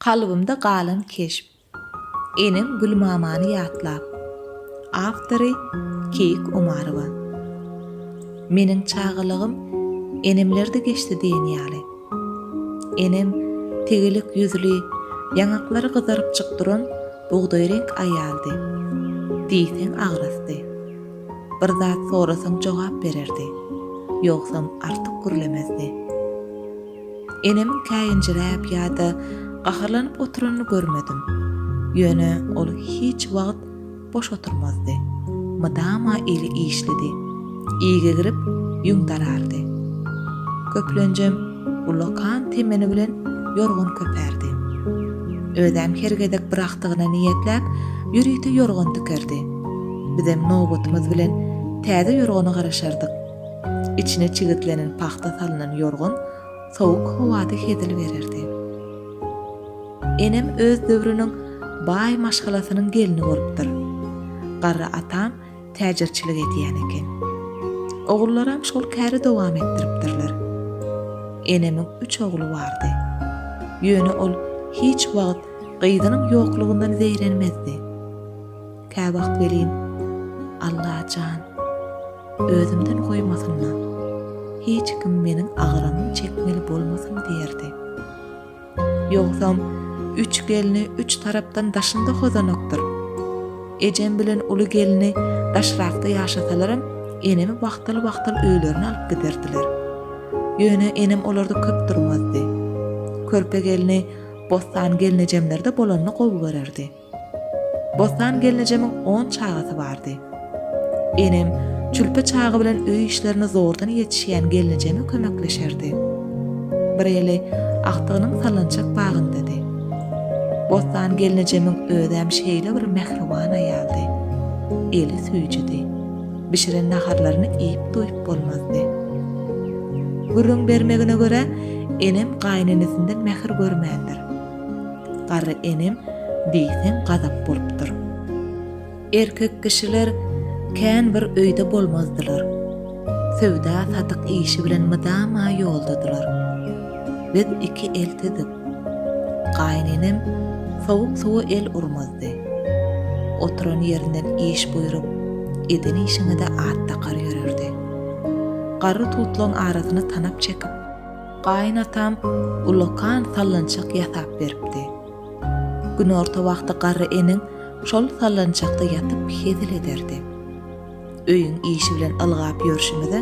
Kalbymda galan keşp. Enem Gülmamany ýatlap. Awtory, Keýik Omarowa. Meniň çagalygym enemlerde geçdi diýen ýaly. Enem tegelek ýüzli, ýaňaklary gyzarypjyk duran bugdaýreňk aýaldy. Diýseň agrasdy. Bir zat sorasaň jogap bererdi. Ýogsam artyk gürlemezdi. Enemiň käýinjiräp ýa-da gaharlanyp oturanyny görmedim. Ýöne ol hiç wagt boş oturmazdy. Mydama eli işlidi. Iýgi girip, ýüň darardy. Köplenjem ulakan temeni bilen ýorgan köpärdi. Özem her gezek bir agtygyna niýetläp, ýörite ýorgan tikerdi. Bizem nobatymyz bilen täze ýorgana garaşardyk. Içine çigitlenen pagta salnan ýorgan sowuk howada hezil bererdi. Enem öz döwrüniň baý maşgalasynyň gelni bolupdyr. Garry atam täjirçilik edýän eken. Ogullaram şol käri dowam etdiripdirler. Enemiň üç ogly bardy. Ýöne ol hiç wagt gyzynyň ýoklugyndan zeýrenmezdi. Käwagt welin, Alla jan, özümden goýmasynma, hiç kim meniň agyrymyň çekmeli bolmasyn diýerdi. Ýogsam, üç gelni üç tarapdan daşynda hozanakdyr. Ejem bilen uly gelni daşrakda ýaşasalaram, enemi wagtal-wagtal öýlerine alyp giderdiler. Ýöne enem olarda köp durmazdy. Körpe gelni Bossan gelnejemlerde bolanyny gowy görerdi. Bossan gelnejemiň on çagasy bardy. Enem çülpe çaga bilen öý işlerine zordan ýetişýän gelnejeme kömekleşerdi. Bir eli agtygynyň sallançak bagyndady. Bossan gelnejemiň özem şeýle bir mähriban aýaldy. Eli süýjüdi. Bişiren naharlaryny iýip-doýup bolmazdy. Gürrüň bermegine görä, enem gaýynenesinden mähir görmändir. Garry enem diýseň gazap bolupdyr. Erkek kişiler kän bir öýde bolmazdylar. Söwda-satyk işi bilen mydama ýoldadylar. Biz iki eltidik. Gaýynenem sowuk suwa el urmazdy. Oturan ýerinden iş buýrup, eden işiňe-de at dakar ýörerdi. Garry tutlaň arasyny tanap çekip. Gaýynatam ullakan sallançak ýasap beripdi. Günorta wagty garry eniň şol sallançakda ýatyp hezil ederdi. Öýüň işi bilen ylgap ýörşümize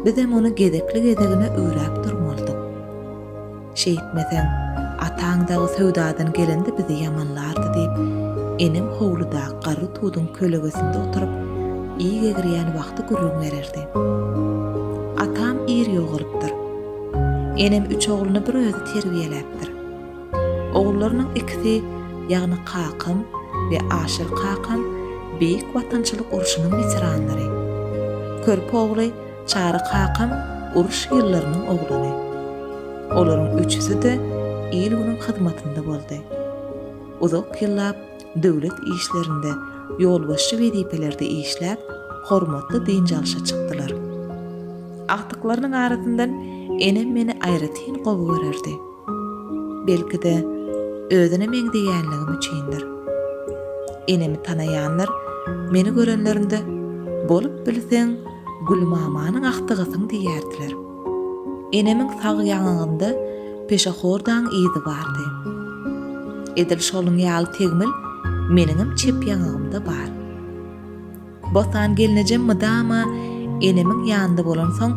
bizem ony gezekli-gezegine üwräp durmalydyk. Şeýtmeseň, ataň dagy söwdadan gelende bizi ýamanlardy diýip, enem howludaky garry tuduň kölegesinde oturyp, iý gegrýän wagty gürrüň bererdi. Atam ir ýogalypdyr. Enem üç ogluny bir özi terbiýeläpdir. Ogullarynyň ikisi, ýagny kakam we Aşyr kakam Beýik Watançylyk urşunyň weteranlary. Körpe ogly Çary kakam uruş ýyllarynyň oglany. Olaryň üçüsi-de il-günüň hyzmatynda boldy. Uzak ýyllap döwlet işlerinde, ýolbaşçy wezipelerde işläp, hormatly dynç alşa çykdylar. Agtyklarynyň arasyndan enem meni aýratyn gowy görerdi. Belki-de, özüne meňzeýänligim üçindir. Enemi tanaýanlar meni görenlerinde, Bolup bilseň, Gülmamanyň agtygysyň diýerdiler. Enemiň sag ýaňagynda peşehordaň yzy bardy. Edil şonuň ýaly tegmil meniňem çep ýaňagymda bar. Botan gelnejem mydama enemiň ýanynda bolansoň,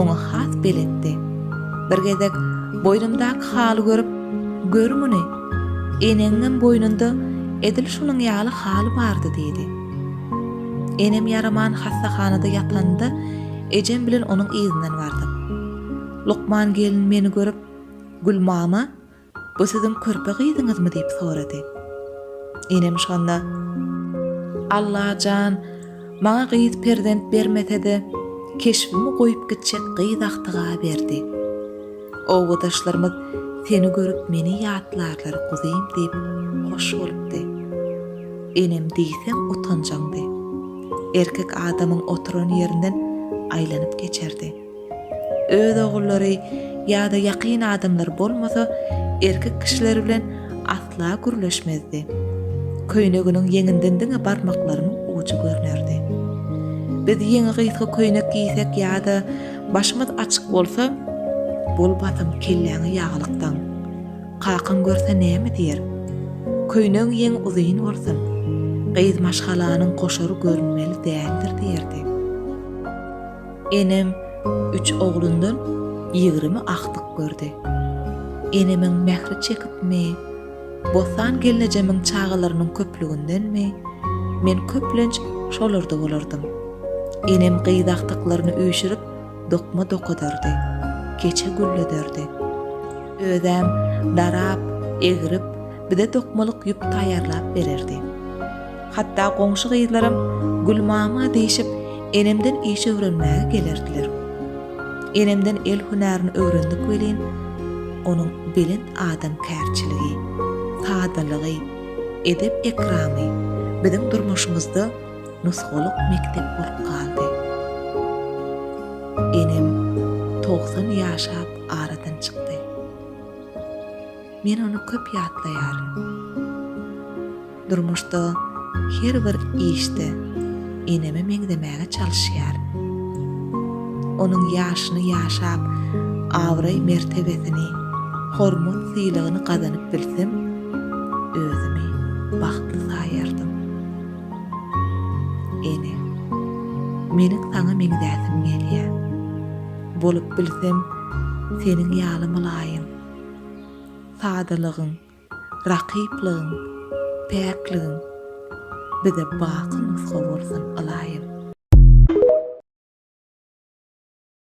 oňa has beletdi. Bir gezek boýnumdaky haly görüp, Gör muny! Eneňiňem boýnunda edil şunuň ýaly haly bardy diýdi. Enem ýaraman hassahanada ýatanda, Ejem bilen onuň yzyndan bardyk. Lukman gelin meni görüp, Gülmama, bu siziň körpe gyzyňyzmy diýip sorady. Enem şonda. Alla jan, maňa gyz perzent bermese-de, keşbimi goýup gitjek gyz agtyga berdi. Obadaşlarymyz seni görüp meni ýatlarlar guzym diýip hoş bolupdy. Enem diýseň utanjaňdy. Erkek adamyň oturan ýerinden aýlanyp geçerdi. Öz ogullary ýa-da ýakyn adamlary bolmasa erkek kişiler bilen asla gürleşmezdi. Köýneginiň ýeňinden diňe barmaklaryň ujy görnerdi. Biz ýeňi gysga köýnek giýsek ýa-da Başymyz açyk bolsa, bol basym kelläňi ýagalykdan. Kakaň görse näme diýer? Köýnegiň ýeň uzyn bolsun, gyz maşgalanyň goşary görünmeli däldir diýerdi. Enem üç oglundan ýigrimi agtyk gördi. Enemiň mähri çekipmi, Bossan gelnejemiň çagalarynyň köplügindenmi, men köplenç şolarda bolardym. Enem gyz agtyklaryny üýşürip, dokma dokadardy, keçe güllederdi. Özem darap, egrip, bize dokmalyk ýüp taýýarlap bererdi. Hatda goňşy gyzlaram Gülmama diýşip, enemden iş öwrenmäge gelerdiler. Enemden el hünärini öwrendik welin, onuň belent adamkärçiligi, sadalygy, edep-ekramy biziň durmuşymyzda nusgalyk mekdep bolup galdy. Enem togsan ýaşap aradan çykdy. Men ony köp ýatlaýaryn. Durmuşda her bir işde eneme meňzemäge çalyşýar. Onuň ýaşyny ýaşap, abraý-mertebesini, hormat-sylagyny gazanyp bilsem, özümi bagtly saýardym. Ene, meniň saňa meňzäsim gelýär. Bolup bilsem, seniň ýaly mylaýym. Sadalygyň, Rakyplygyň, päkligiň bize baky nusga bolsun ylaýym.